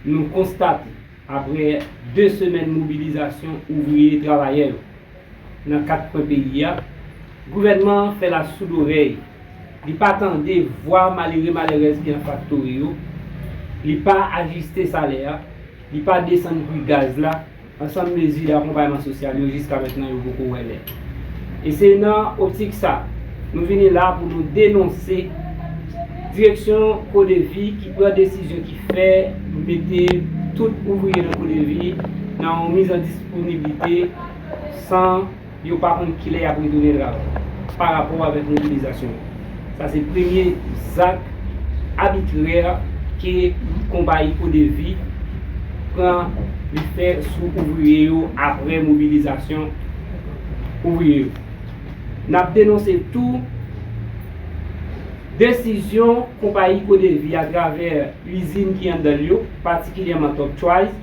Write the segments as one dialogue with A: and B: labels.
A: Nou konstate, aprè 2 semèn mobilizasyon ouvriye travayè yo nan 4 kwen peyi a, gouvènman an fè lasoudorèy, li pa tande vwa malere malerèz ki nan faktori yo, li pa ajiste salè a, li pa desann pri gaz la, Ansanm mezi akonpayman sosyal yo jiska mentnan yo poko wè lè. E se nan optik sa, nou vini la pou nou denonse direksyon CODEVI ki pran desizyon ki fè mete tout ouvriye nan CODEVI nan yon mizandisponibite san. yo pa konn kilè y ap retounen travay pa rapò avèk mobilizasyon yo. Sa se premye zak abitrè ke konpayi Codevi pran li fè sou ouvriye yo aprè mobilizasyon ouvriye yo. N ap denonse tou desizyon konpayi Codevi atravè izin ki anndan l yo, patikilyèman Top Choice,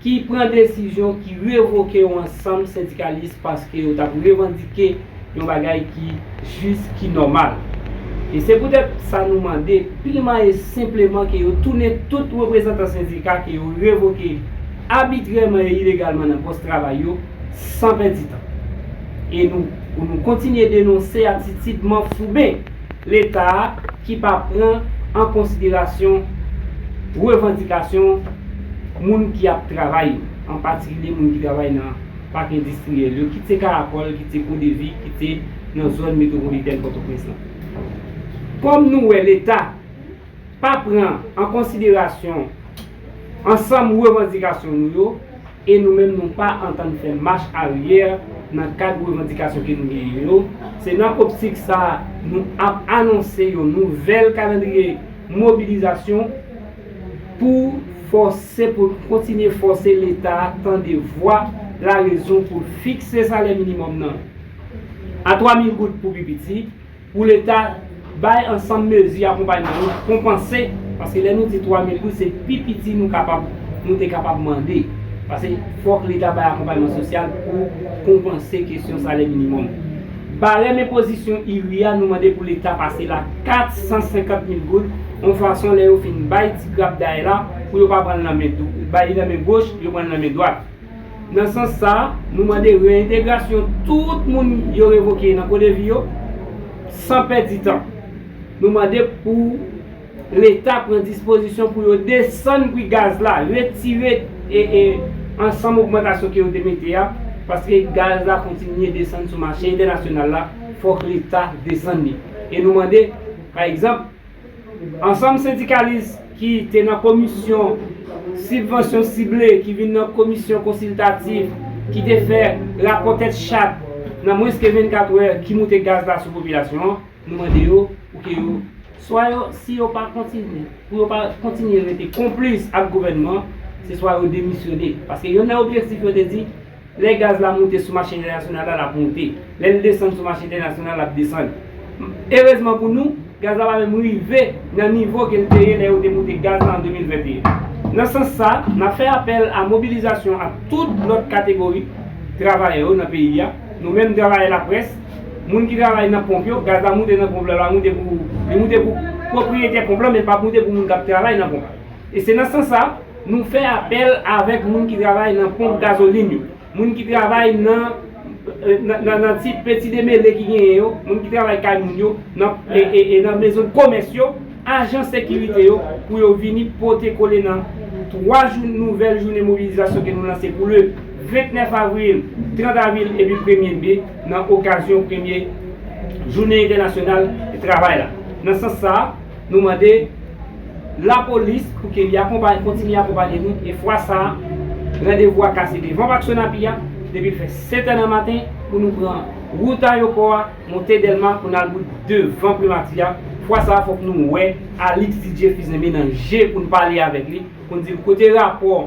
A: ki pran desizyon ki revoke yon ansanm sendikalis paske yo t ap revandike yon bagay ki jis, ki nòmal. E se poutèt sa nou mande, pilman e senpleman ke yo tounen tout reprezantan sendika ke yo revoke abitrèman e ilegalman nan pòs travay yo, san pèdi tan. E nou, pou nou kontinye denonse atitid manfouben. Leta a ki pa pran an konsiderasyon revandikasyon moun ki ap travay yo, an patikilye moun ki travay nan pak endistriyèl yo, kit se Karakòl, kit se Godevi, kit se nan zòn metwopolitèn Pòtoprens lan. Kòm nou wè Leta pa pran an konsiderasyon ansanm revandikasyon nou yo, E nou menm nou pa antann fè mach aryè nan kad revandikasyon ke nou genyen yo, se nan optik sa a nou ap anonse yon nouvèl kalandriye mobilizasyon pou fòse pou n kontinye fòse leta a tande vwa larezon pou l fikse salè minimòm nan a 3 mil goud pou pi piti. Pou leta bay ansanm mezi akonpayman yo pou konpanse, paske lè nou di 3 mil goud se pi piti nou kapab, nou te kapab mande. Pase fòk leta bay akonpayman sosyal pou konpanse kesyon salè minimòm. Barèm enpozisyon IRI a nou mande pou leta pase l a 450 mil goud, yon fason lè yo fin bay ti grapday la pou yo pa pran l nan men, bay li nan men goch, yo pran l nan men dwat. Nan sans sa, nou mande reyentegrasyon tout moun yo revoke nan CODEVI yo, san pèdi tan. Nou mande pou Leta pran dispozisyon pou yo desann pri gaz la, retire ansanm ogmantasyon ke yo te mete a, paske gaz la kontinye desann sou mache entènasyonal la, fòk Leta desann li. E nou mande, pa egzanp, Ansanm sendikalis ki te nan komisyon sibvansyon sible ki vin nan komisyon konsiltatif ki te fè rapò tèt chat nan mwens ke 24 wè ki moute gaz la sou popilasyon an, nou mande yo pou ke yo swa yo si yo pa kontinye pou yo pa kontinye rete konplis ak gouvènman se swa yo demisyone paske yonn nan objektif yo te di Lè gaz la moute sou mache entènasyonal la, l ap moute. Lè l desann sou mache entènasyonal, l ap desann. Erezman pou nou, gaz la pa menm rive nan nivo ke l te ye lè yo te moute gaz la an 2021. Nan sans sa, n ap fè apèl a mobilizasyon ak tout lòt kategori travayè yo nan peyi a. Nou menm travayè laprès, moun ki travay nan ponp yo, gaz la moute nan ponp la, li moute pou pwopriyetè ponp la men l pa moute pou moun k ap travay nan ponp la. E se nan sans sa, nou fè apèl avèk moun ki travay nan ponp gazolin yo, moun ki travay nan nan ti peti demele ki genyen yo, moun ki travay kay moun yo, nan e nan mezon komès yo, ajan sekirite yo pou yo vini pote kole nan 3 jou nouvèl jounen mobilizasyon ke nou lanse pou le 29 avril, 30 avril epi premye me nan okazyon premye jounen entènasyonal travay la. Nan sans sa. Nou mande Lapolis pou ke li akonpaye, kontinye akonpaye nou e fwa sa a, randevou a kase devan Pak Sonapi a, depi l fè 7 è nan maten, pou nou pran wout ayopò a, monte Dèlma pou n al bout devan Primati a, fwa sa a fòk nou wè Alix Didier Fils-Aimé nan je pou n pale avèk li, pou n di l kote rapò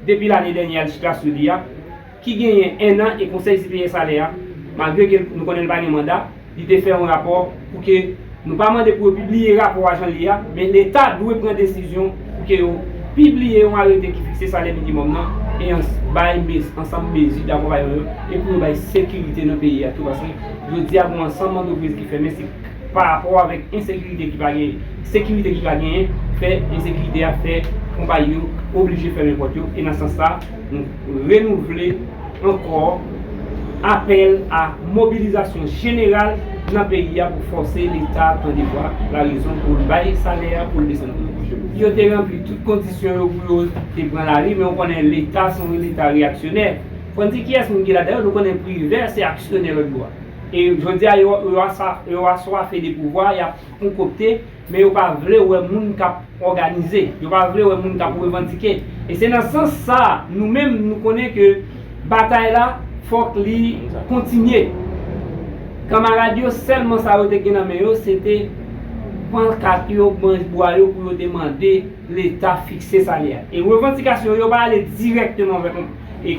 A: depi lane dènyè a li chita sou li a. ki genyen ennan e Konsèy Siveye Salè a, malgre ke nou konnen li pa gen manda, li te fè yon rapò pou ke nou pa mande pou yo pibliye rapò a jan l ye a, men Leta dwe pran desizyon pou ke yo pibliye yon arete ki fikse salè minimòm nan e ans bay mes ansanm mezi dakonpayan yo e pou yo bay sekirite nan peyi a tou paske jodi a gon ansanm antrepriz ki fèmen se pa rapò avèk ensekirite ki pa gen sekirite ki pa genyen fè ensekirite a fè konpayi yo oblije fèmen pòt yo e nan sans sa Nou renouvle ankò apèl a mobilizasyon jeneral nan peyi a pou fòse Leta tande vwa larezon pou l bay salè a, pou l desann pri pwodwi yo. Yo te ranpli tout kondisyon yo pou yo te pran lari men ou konnen Leta se yon Leta reyaksyonè. Fò n di kiyès moun ki ladan yo, nou konnen Privè se aksyonè lòtbò a. E jodi a yo aswafe de pouvwa, y ap konkokte. Men yo pa vle wè moun k ap òganize, yo pa vle wè moun k ap revandike. E se nan sans sa a, nou menm nou konnen ke batay la fòk li kontinye. Kanmarad yo sèlman sa yo te gen nan men yo se te pankat yo, branch bwa yo pou yo te mande Leta fikse salè a. E revandikasyon yo yo pa ale dirèkteman vè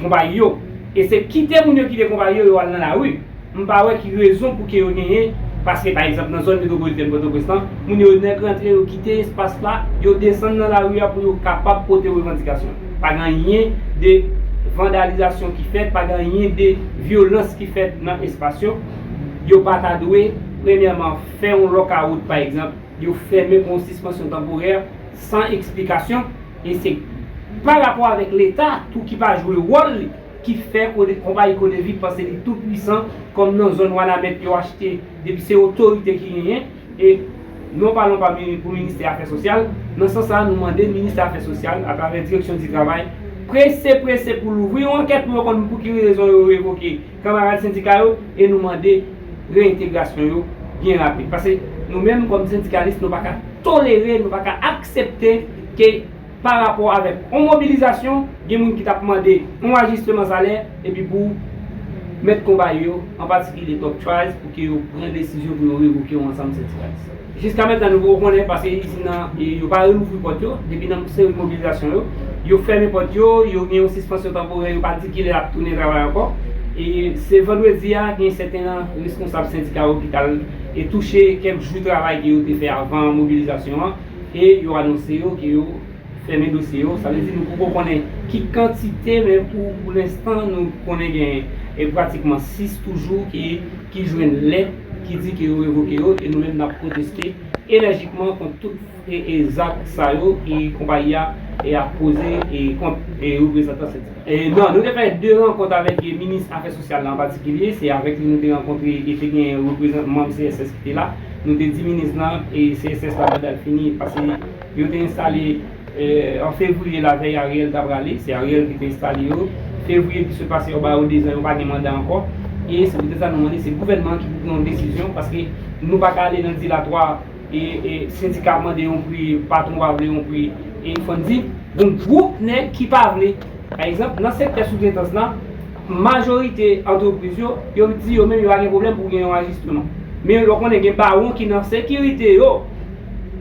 A: konpayi yo. E se kite moun yo kite konpayi yo, yo al nan lari. M pa wè ki rezon pou ke yo genyen, paske pa egzanp nan zòn metwopolitèn Pòtoprens lan, moun yo nèk rantre yo kite espas la, yo desann nan lari a pou yo kapab pote revandikasyon. Pa gen anyen de vandalizasyon ki fèt, pa gen anyen de vyolans ki fèt nan espas yo. Yo pa ta dwe, premyèman, fè yon lòkawout pa egzanp, yo fèmen pou yon sispansyon tanporè san eksplikasyon e se pa rapò avèk Leta tou ki pa jwe wòl li. ki fè konpayi Codevi panse li tou pwisan kòm nan zòn Wanament yo achte depi se otorite ki genyen e non palan pa pou ministè afè sosyal, nan sans sa nou mande ministè afè sosyal atravè direksyon di travay prese prese pou louvri yon ankèt pou yo konn pou ki rezon yo revoke kanmarad sendika yo e nou mande reentegrasyon yo byen rapid paske nou menm kòm sendikalis nou pa ka tolere nou pa ka aksepte ke pa rapò avèk on mobilizasyon, gen moun ki t ap mande on ajisteman salè epi pou mèt konpayi yo, an patikilye Top Choice, pou ke yo pran desizyon pou yo revoke on ansanm sendikalis. Jiska mentnan nou poko konnen paske izin nan yo pa relouvri pòt yo depi nan seri mobilizasyon yo. Yo fèmen pòt yo, yo gen on sispansyon tanporè, yo pa di kilè y ap tounen travay ankò. E se vandredi a gen sèten nan reskonsab sendika yo ki t al touche kèk jou travay ke yo te fè avan mobilizasyon an. e yo anonse yo ke yo fèmen dosye yo, sa vle di nou poko konnen ki kantite men pou pou lenstan nou konnen gen e pratikman 6 toujou ki ki jwenn lèt ki di ke yo revoke yo e nou menm nap pwoteste enèjikman kont tout e e zak sa yo e konpayi a e ap poze e kont e reprezantan sendika. Non, nou te fè 2 rankont avèk minis afè sosyal la an patikilye, se avèk li nou te rankontre e te gen reprezan manm CSS ki te la. Nou te di minis lan e CSS la manda l fini pase yo te enstale an fevriye lavèy Ariel ta prale, se Ariel ki te enstale yo, fevriye ki sot pase yo ba yo 2 zan yo pa gen manda ankò e se poutèt sa nou mande se gouvènman an ki pou pran yon desizyon paske nou pa ka ale nan dilatwa. e sendika mande yon pri, patwon pa vle yon pri, e fò n di, gon gwoup nèg ki pa vle. Pa egzanp, nan sektè soutretans la, majorite antrepriz yo, yo di yo menm yo pa gen pwoblèm pou gen yon ajisteman. Men lè w konnen gen bawon ki nan sekirite yo,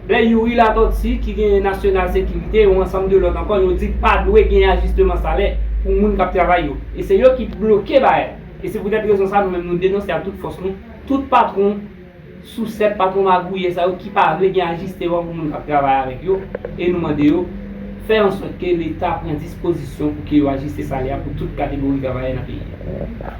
A: lè Youri Latortue ki gen Nasyonal Sekirite, yon ansanm de lòt ankò, yo di pa dwe gen ajisteman salè pou moun k ap travay yo. E se yo ki bloke bagay la. E se poutèt rezon sa a nou menm nou denonse ak tout fòs nou, tout patwon, Sousèt, patwon magouyè sa yo ki pa vle gen ajisteman pou moun k ap travay avèk yo e nou mande yo fè an sòt ke leta pran dispozisyon pou ke yo ajiste salè a pou tout kategori travayè nan peyi a.